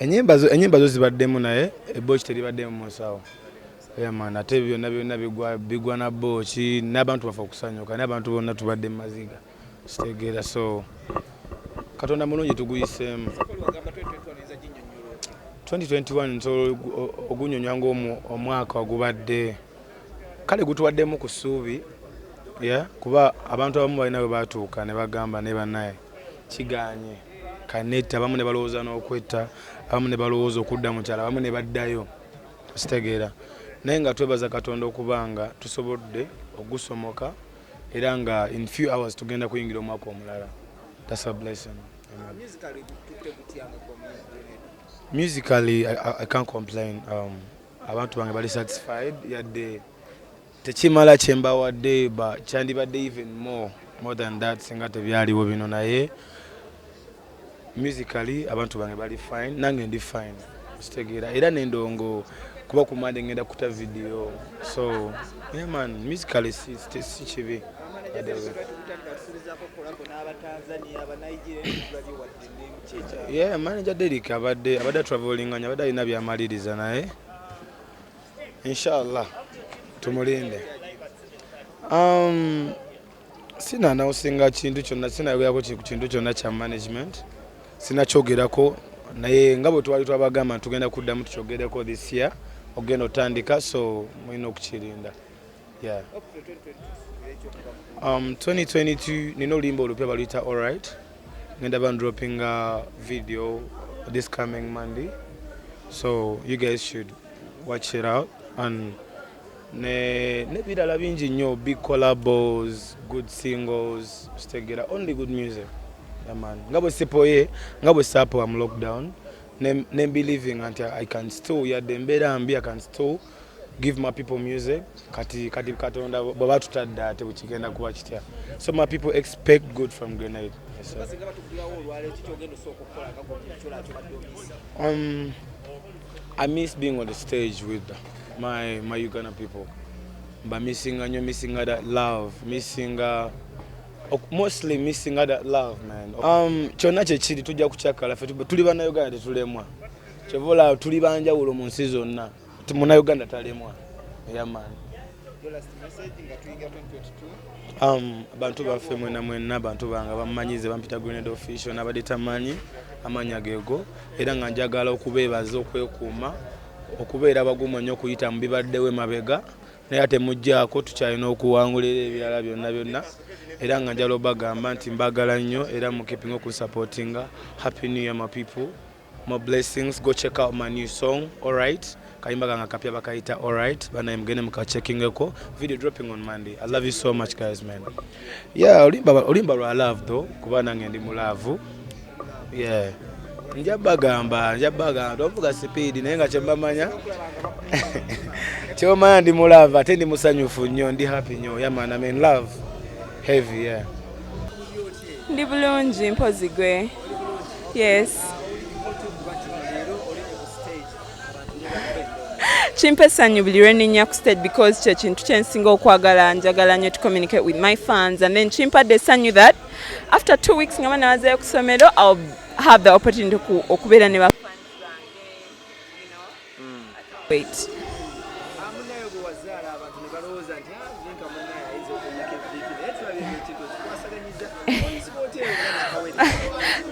enyimba zo enyimba zo zibaddemu naye ebooki teribaddemu mu nsawo yamana ate byonna byonna bigwa bigwa na booki n'abantu bafa okusanyuka naye abantu bonna tubadde mu maziga kitegeera so katonda mulungi tuguyiseemu 2021 nsobola ogunyonyola ngaomwaka ogubadde kale gutuwaddemu ku ssuubi kuba abantu abamu balina bwe batuuka ne bagamba ne banaye Kigaanye. Kanetta abamu ne balowooza n'okwetta, abamu ne balowooza okudda mu kyalo, abamu ne baddayo. Okitegeera? Naye nga twebaza Katonda okuba nga tusobodde okugusomoka era nga in few hours tugenda kuyingira omwaka omulala. That's a blessing. Amen. Musically, I, I, I can't complain. Um, abantu bange bali satisfied yadde Tekimala kyembawadde ba kyandibadde even more more than that singa tebyaliwo bino naye musically abantu bange bali fine nange ndi fine kitegeera era nendongo kuba kumande ngenda kuta video so yeah man musically si kibi yeah manager derik abadde abadde travelinga abadde alina byamaliriza naye inshallah tumulinde um, sina nausinga kintu kyonna sinayogerako kintu kyonna kya management sinakyogerako naye nga bwe twali twabagamba ntugenda kuddamu tukyogereko this year ogenda otandika so mulina okukirinda Yeah. Um, 2022 nina oluyimba olupya baluyita alright ngenda ba dropping a video this coming monday so you guys should watch it out and ne nebirala bingi nnyo big collabos good singles kitegera only good music aman nga bwe sipoye nga bwe sapowa mu lockdown ne, ne believing nti i can still yadde embeera mbi i can still give my people music kati kati katonda baba tutadde ate bukigenda kuba kitya so my people expect good from grenade yes, um, i miss being on the stage with my, my uganda people mba missinga nyo missinga that love missinga mostly missinga that love man um, kyonna kyekiri tujja kukyakala fe tuli banauganda tetulemwa kyova olaba tuli banjawulo mu nsi zonna Muna Uganda talemwa yamani um, bantu baffe mwena mwena bantu bange bamumanyize bampita grenade official nabadde tamanyi amanya gego era nga njagala okubeebaza okwekuuma okubeera bagumu nnyo okuyita mu bibaddewo emabega naye ate mujjaako tukyalina okuwangulira ebirala byonna byonna era nga njala obagamba nti mbagala nnyo era mukipinga okusapotinga happy new year my people More blessings. Go check out my new song, Alright. Kayimba kanga kapya bakayita Alright. Bana mgende muka checking eko. Video dropping on Monday. I love you so much guys man. Yeah, olimba olimba lwa love though kuba nange ndi mu love. Yeah. Nja bagamba, nja bagamba. Tovuga speed naye nga kyembamanya. Kyomanya ndi mu love ate ndi musanyufu nnyo, ndi happy nnyo. Yeah man, I'm in love. Heavy, yeah. Ndi bulungi mpozi gwe. Yes. kimpa essanyu buli lwenenya ku stage because kyekintu kyensinga okwagala njagala nyo to communicate with my fans and then kimpadde essanyu that after two weeks nga banawazayo ku somero ill have the opportunity okubeera ne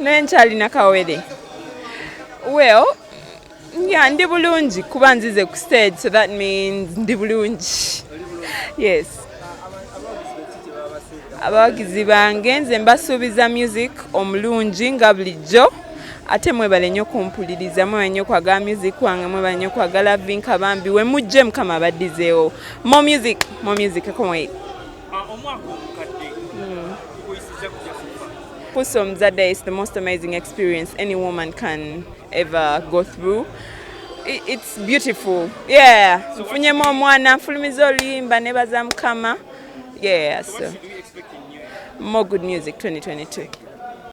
naye nkyalina kawere well ya ndi bulungi kuba nzize ku stage so that means ndi bulungi yes abawagizi bange nze mbasuubiza music omulungi nga bulijjo ate mwebale nnyo kumpuliriza mwebale nnyo kwagala music wange mwebale nnyo kwagala vinka bambi we mujje mukama abaddizeewo mo music mo music ekomwei Puso Mzada is the most amazing experience any woman can ever go through it's beautiful yeah nfunyemu omwana nfulumiza oluyimba nebaza mukama yeah so more good music 2022